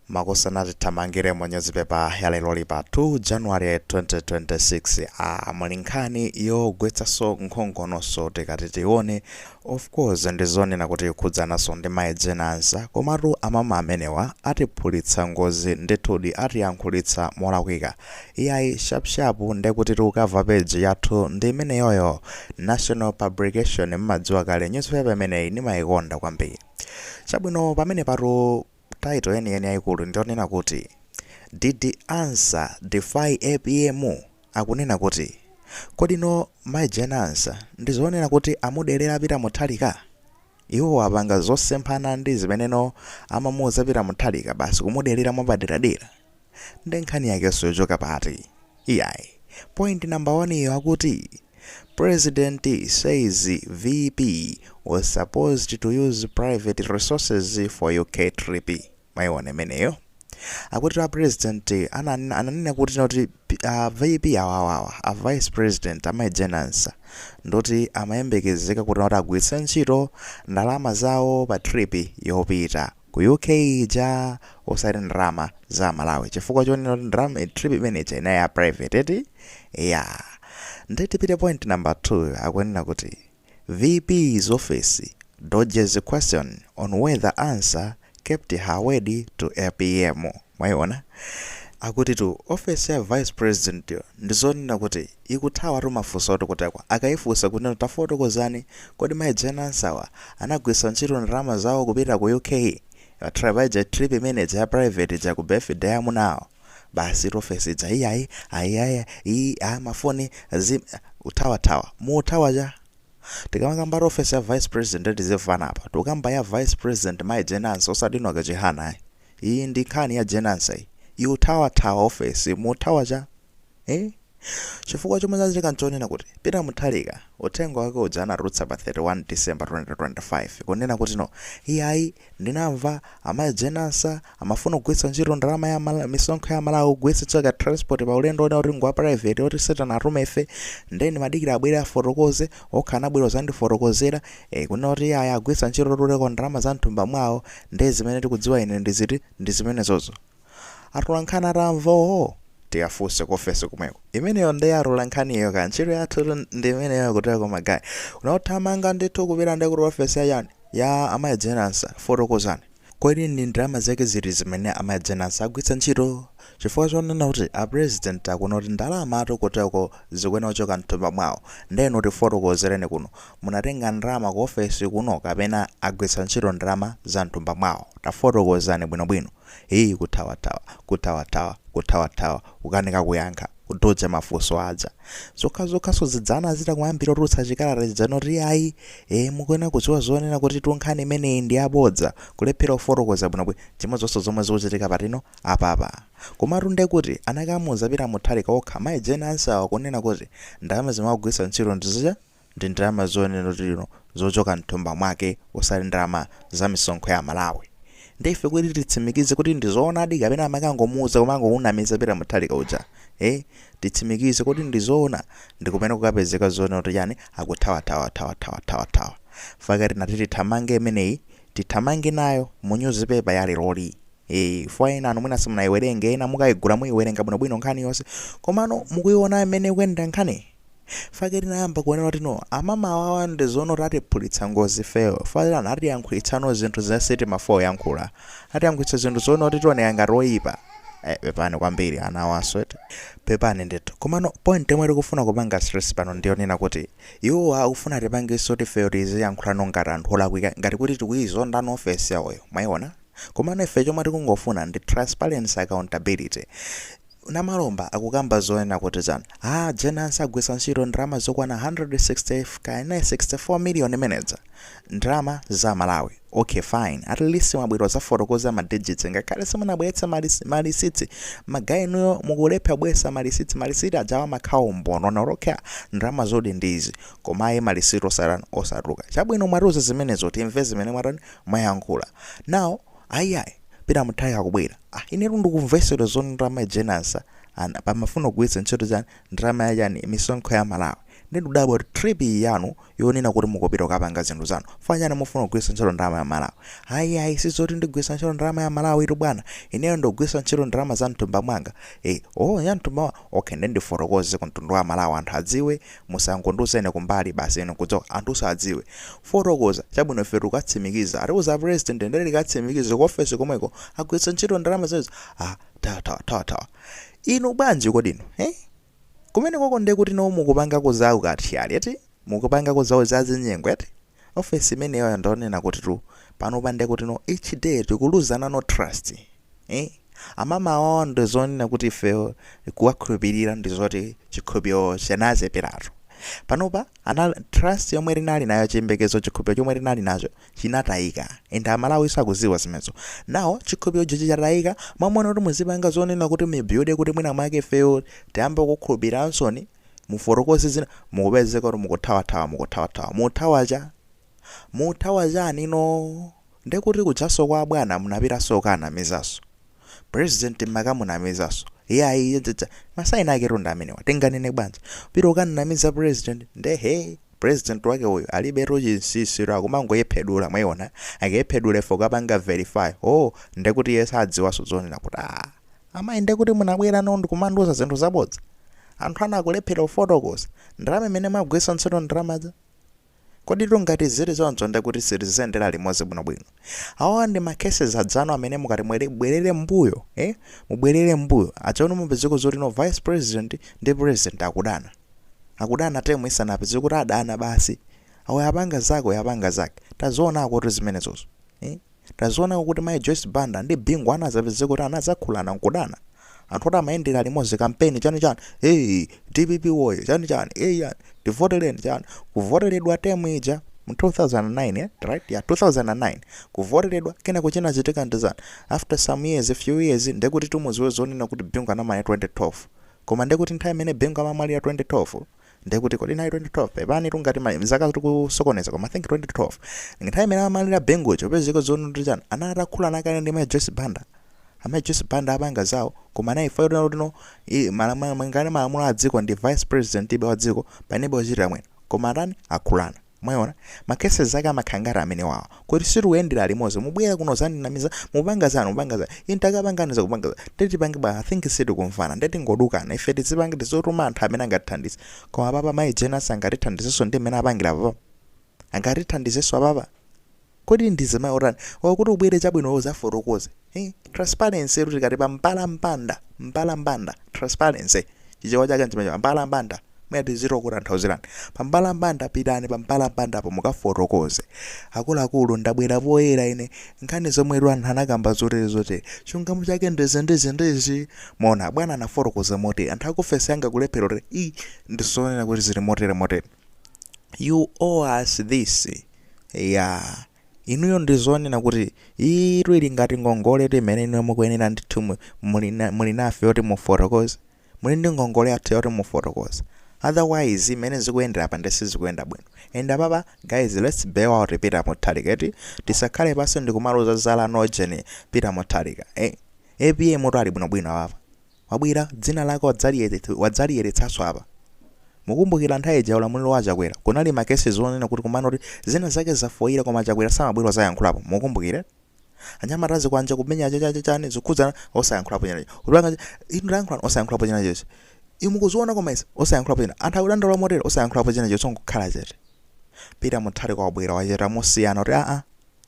Makosana tithamangire mu nyuzipepa ya leroyi pa 2 January 2026 a muli nkhani yogwetsaso nkhongono so tikati tione of course ndizonena kuti ikukhudzanaso ndi Mai Jane Ansah komatu amama amenewa atiphulitsa ngozi ndithudi atiyankhulitsa molakwika iyayi sharp sharp ndekutitu cover page yathu ndi imeneyoyo National Publication mmadziwa kale nyuzipepa imeneyi ndimaikonda kwambiri. Chabwino pamene patu title yeniyeni yayikulu ndiyonena kuti Did Ansah defy APM? Akunena kuti kodi no Mai Jane Ansah ndizonena kuti amudelera Peter Mutharika? Iwowa apanga zosemphana ndi zimene no amamuuza Peter Mutharika basi kumudelera mwapaderadera? nde nkhani yakeso yochoka pati? iyayi point number 1 yo akuti president says VP was supposed to use private resources for UK trip mwaiona imeneyo akutitu a president ananena ananena kuti noti a VP awawawa a vice president amayi Jane Ansah ndoti amayembekezeka kuti noti agwiritsa ntchito ndalama zawo pa trip yopita Ku UK ija osati ndalama za amalawi chifukwa chonena kuti ndalama eh, trip imene ija inali ya private eti ya nde tipite point number 2 akunena kuti vp's office dodges question on whether Ansah kept her word to APM Mwaiona? Akutitu office ya vice president yo ndizonena kuti ikuthawatu mafunsotu kutereko akaifunsa kunena kuti tafotokozani kodi mai Jane Ansah wa anagwiritsa ntchito ndalama zawo kupita ku UK pa trip paija trip imene ija ya private ija ku birthday ya amuna awo basitu office ija iyayi ayi aya iyi a mafoni zi kuthawathawa muthawa cha Tikamakambatu office ya vice president tizimvana apa tikukamba ya vice president mai Jane Ansah osati Enoch Chihana ayi. iyi ndi nkhani ya Jane Ansah iyi ikuthawathawa office muthawa cha eh chifukwa chomwe zachitika nchonena kuti peter muthalika uthenga wake uja anatulutsa pa 31 december 2025 kunena kuti no iyayi ndinamva amayi Jane Ansah amafuna kugwiritsa ntchito ndalama ya Mala- misonkho ya malawi kugwiritsa ntchito ka transport pa ulendo onena kuti ngwa private oti sitanatumefe nde nimadikira abwere afotokoze okha anabwera kuzandifotokozera, eh, kunena kuti iyayi agwiritsa ntchito kutereko ndalama za mthumba mwawo, nde zimene tikudziwa ine ndi ziti, ndi zimenezozo. Atolankhani atamva, oh, tiyafunse ku ofesi komweko. Imeneyo nde ya atolankhaniyo kaya, ntchito yathutu ndi imeneyo kutereko ma guy. Kunena kuti thamanga ndithu kupita nde kuti ofesi ya chani, ya a Mayi Jane Ansah, fotokozani. Kodi ndi ndalama zake ziti zimene amayi Jane Ansah agwitsa ntchito? Chifukwa chonena kuti a president akuona kuti ndalamatu kuteroko zikuyenera kuchoka mthumba mwawo nde inu tifotokozereni kuno munatenga ndalama ku ofesi kuno kapena agwitsa ntchito ndalama za mthumba mwawo tafotokozani bwinobwino? Hii kuthawathawa kuthawathawa kuthawathawa kukanika kuyankha. kudodza mafunso aja zokhazokha so zidzana zita kuyambira kutulutsa chikalata chija nkuti ayi e, mukuyenera kudziwa zonena kuti tunkhani imeneyi ndi yabodza kulephera kufotokoza bwinobwino chimodzonso zomwe zikuchitika patino apapa komatu ndekuti anakamuuza Peter Mutharika okha mayi Jane Ansah kunena kuti ndalama zimene akugwiritsa ntchito ndi zija ndi ndalama zoyenera kuti lino zochoka mthumba mwake osati ndalama za misonkho ya amalawi nde ife kuti titsimikize kuti ndi zoonadi kapena amakangomuuza kumangomunamiza Peter Mutharika uja eh titsimikize kuti ndi zoona ndikumene kukapezeka zonena kuti chani akuthawathawathawathawathawa faka tinati tithamange imeneyi tithamange nayo mu nyuzipepa ya leroli Eh, chifukwa ena anu mwina simunayiwerenge ena mukayigula muyiwerenga bwinobwino nkhani yonse komano mukuyiona mmene ikuyendera nkhani fake tinayamba kuonera kuti no amama awawa ndi zoona kuti atiphulitsa ngozi ifeyo atiyankhulitsano zinthu zosati timafuna kuyankhula atiyankhulitsa zinthu zoona kuti tioneka ngati oyipa Eh, pepani kwambiri ana awanso eti pepani ndithu komano point yomwe tikufuna kupanga stress pano ndiyonena kuti iwo akufuna tipangenso ifeyo tiziyankhulano ngati anthu olakwika ngati kuti tikuyizonda ofesi yawoyo mwayiona komano ife chomwe tikungofuna ndi transparency accountability Namalomba akukamba zoona kuti Jane Ansah agwisa ntchito ndalama zokwana 160 kaya 64 million zimenezo ndalama za amalawi ok fine at least mwabwera uzafotokoza ma digits ngakhale simunabweretse ma ma lisiti ma guy inuyo mukulepha kubweresa ma lisiti ma lisiti ajawa amakhala umboni woonadi kuti ndalama zoonadi ndi izi koma ayi ma lisiti osatan osatuluka chabwino mwatiuza zimenezo timve zimene mwatan mwayankhula now ayi ayi Peter Mutharika akubwera Ah inetu ndikumvesera zoti ndalama a Jane Ansah apa mumafuna kugwiritsa ntchito chani ndalama ya chani misonkho ya aMalawi nde ndikudabwa kuti trip iyi yanu yonena kuti mukupita kukapanga zinthu zanu chifukwa chani mufuna kugwiritsa ntchito ndalama ya aMalawi ayi yayi sizoti ndigwiritsa ntchito ndalama ya aMalawitu bwana ineyo ndikugwiritsa ntchito ndalama za mthumba mwanga eh oh ya mthumba mwa okay nde ndifotokoze ku mtundu wa aMalawi anthu adziwe Musangondiuza ine kumbali basi ine nkudziwa anthu sadziwe. Fotokoza, chabwino ife tukatsimikiza. Atiuza president ndiye tikatsimikize ku office komweko agwiritsa ntchito ndalama zimenezo. Ah, thawa thawa thawa thawa. Inu bwanji kodi inu? He? Kumenekoko ndiye kuti no mukupangako za ukathyali eti? Mukupangako za za zinyengo eti? Office imeneyoyo ndi onena kutitu panopa nde kuti no each day tikuluza nayo trust eh amama awawa ndi zonena kuti ifeyo kuwakhulupilira ndi zoti chikhulupiliro chinacheperatu panopa amene trust yomwe tinali nayo chiyembekezo chikhulupiliro chomwe tinali nacho chinatayika and amalawinso akudziwa zimenezo now chikhulupiliro chija chatayika mwamona kuti muzipanga zoonetsa kuti mubuilde kuti mwina mwake ifeyo tiyambe kukukhulupiliransoni Mufotokoze zina mukupezeka kuti mukuthawathawa mukuthawathawa. Muthawa cha? Muthawa chani no? Nde kuti kujanso kwa abwana munapitanso kukaanamizanso president mumakamunamizanso iyayi chachadza ma sign aketu ndi amenewa tinganene bwanji pita ukanamiza president nde he president wake uyu alibetu chinsinsitu akumangoyepsedula mwaiona akeyephedule fo kapanga verify oh nde kuti iye sadziwanso zonena kuti ah Amayi nde kuti munabwerano ndkumandiuza zinthu zabodza? Anthu anu akulephera kufotokoza? Ndalama zimene mwagwiritsa ntchito ndalamazo? Koditu ngati ziri choncho nde kuti sitiziyendera limodzi bwino bwino. Awawa ndi ma cases adzanu amene mukati mubwerere mbuyo eh mubwerere mbuyo achaunu mupezako zoti no vice president ndi president akudana. Akudana term isanapite zikuti adana basi. Uyu apanga zake uyu apanga zake. Tazionakotu zimenezozo. Eh. Tazionako kuti Mayi Joyce Banda ndi Bingu anazapezeka kuti anazakhulana nkudana. Anthu oti amayendera limodzi kampeni chani chani hey dpp woye chani chani hey yani tivotereni chani kuvoteredwa term ija mu 2009 right ya 2009 kuvoteredwa kenako chinachitika ndi zani after some years few years ndekuti timudziwe zonena kuti Bingu anamwalira 2012 koma ndekuti nthawi imene Bingu amamwalira 2012 ndiye kuti kodi inali 2012 pepani tungati mwina zaka tikusokoneza koma i think 2012 nthawi imene amamwalira bingu anapezeka zonena kuti chani anali atakhulana kale ndi mai joyce banda amayi joyce banda apanga zawo koma nayi imfa yoti no tino i- malamu- monga mwa malamulo a dziko ndi vice president basi wa dziko panalibe ochitira mwina koma atani akhulana Mwaona? Ma cases ake amakhala ngati amenewawa. Kuti sitikuyendera limodzi. Mubwera kuno kuzandinamiza, mupanga zanu, mupanga za. Ine takapangani za kupanga za. Ndiye tipange bwa I think sitikumvana. Ndiye tingodukana. Ife tizipange tizituma anthu amene angatithandize. Koma apapa mayi Jane Ansah angatithandizenso ndi mmene apangira apapa. Angatithandizenso apapa. Kodi ndi mzimayi otani? Or kuti ubwere chabwino iwe uzafotokoze hii transparency tu tikati pa mbalambanda mbalambanda transparency chichewa chake nchimenecho mbalambanda mwina tizitokutanthauzirani pa mbalambanda pitani pa mbalambandapo mukafotokoze akuluakulu ndabwera poyera ine nkhani zomwetu anthu anakamba zotere zotere chilungamo chake ndizi ndizi ndizi mwaona bwana anafotokoza motere anthu akuofesi yanga akulephera kuti i ndizonena kuti zili motere motere you owe us this, ya inuyo ndizonena kuti iyitu ili ngati ngongoletu imene inuyo mukuyenera ndithu mu- muli na- muli nafe yoti mufotokoze muli ndi ngongole yathu yoti mufotokoze otherwise imene zikuyendera apa ndithu sizikuyenda bwino and apapa guys let's bail out peter mutharika eti tisakhale pansi ndikumaloza zala nojeni peter mutharika eh apm mutu ali bwinobwino apapa Wabwera dzina lake wadzaliyeretsaso apa. Mukumbukira nthawi ija ulamuliro wa achakwera kunali ma cases onena kuti komano kuti zina zake zafoira koma achakwera samabwera odzayankhulapo mukumbukire anyamata azikwanje kumenya chachachachani zikukhudzana osayankhulapo china chilichonse kupanga inu tayankhulani osayankhulapo china chilichonse inu mukuziona koma izi osayankhulapo china anthu akudandaula motere osayankhulapo china chilichonse nkukhala chete Peter Mutharika wabwera wachita mosiyana kuti aa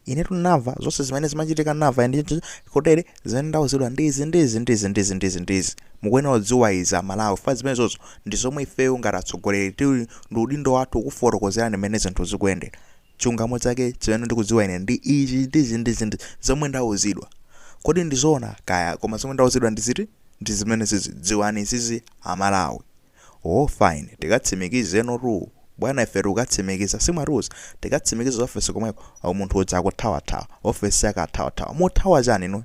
inetu ndinamva zonse zimene zimachitika ndinamva ine ndi kotere zimene ndauzidwa ndi izi ndi izi ndi izi ndi izi ndi izi ndi izi mukuyenera kudziwa izi amalawi chifukwa zimenezozo ndi zomwe ifeyo ngati atsogoleri tili ndi udindo wathu kukufotokozerani mmene zinthu zikuyendera chilungamo chake chimene ndikudziwa ine ndi ichi ndi ichi ndi ichi ndi zomwe ndauzidwa kodi ndizoona kaya koma zomwe ndauzidwa ndi ziti ndi zimene izi dziwani izizi amalawi Oh fine tikatsimikizenotu bwana ife tikukatsimikiza si mwatiuza tikatsimikize office komweko oh munthu uja akuthawathawa office yake athawathawa mukuthawa chani inuyo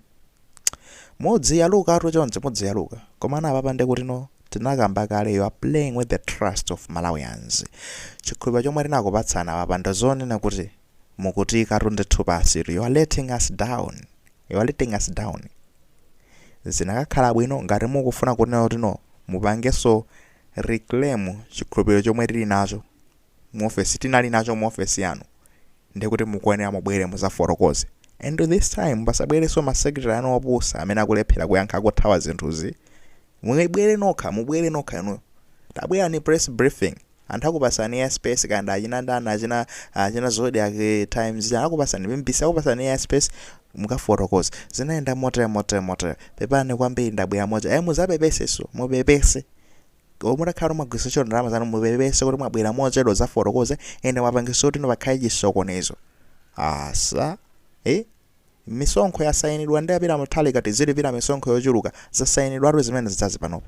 mudziyalukatu choncho mudziyaluka komano apapa nde kuti no tinakamba kale you are playing with the trust of Malawians chikhulupiriro chomwe tinakupatsani apapa ndizonena kuti mukutiikatu ndithu pansitu, you are letting us down, you are letting us down. Zinakakhala bwino ngati mukufuna kunena kuti no mupangenso reclaim chikhulupiriro chomwe tili nacho mu ofesi tinali nacho mu ofesi yanu ndiye kuti mukuyenera mubwere mudzafotokoze and this time pasabwerenso masekretary anu opusa amene akulephera kuyankha akuthawa zinthuzi mubwere nokha mubwere nokha inuyo tabwerani press briefing Anthu akupatsani air space kaya ndi achina ndani achina achina zodiac times anakupatsani mbc akupatsani air space mukafotokoze zinayenda motere motere motere pepani kwambiri ndabwera motere ayi mudzapepesenso mupepese olo mutakhala kuti mwagwiritsa ntchito ndalama zanu mupepese kuti mwabwera mochedwa kudzafotokoza ende mwapangitsa kuti ino pakhale chisokonezo asa eh misonkho yasayinidwa ndi a peter mutharika tizilipira misonkho yochuluka zasayinidwatu zimene zidzazi panopo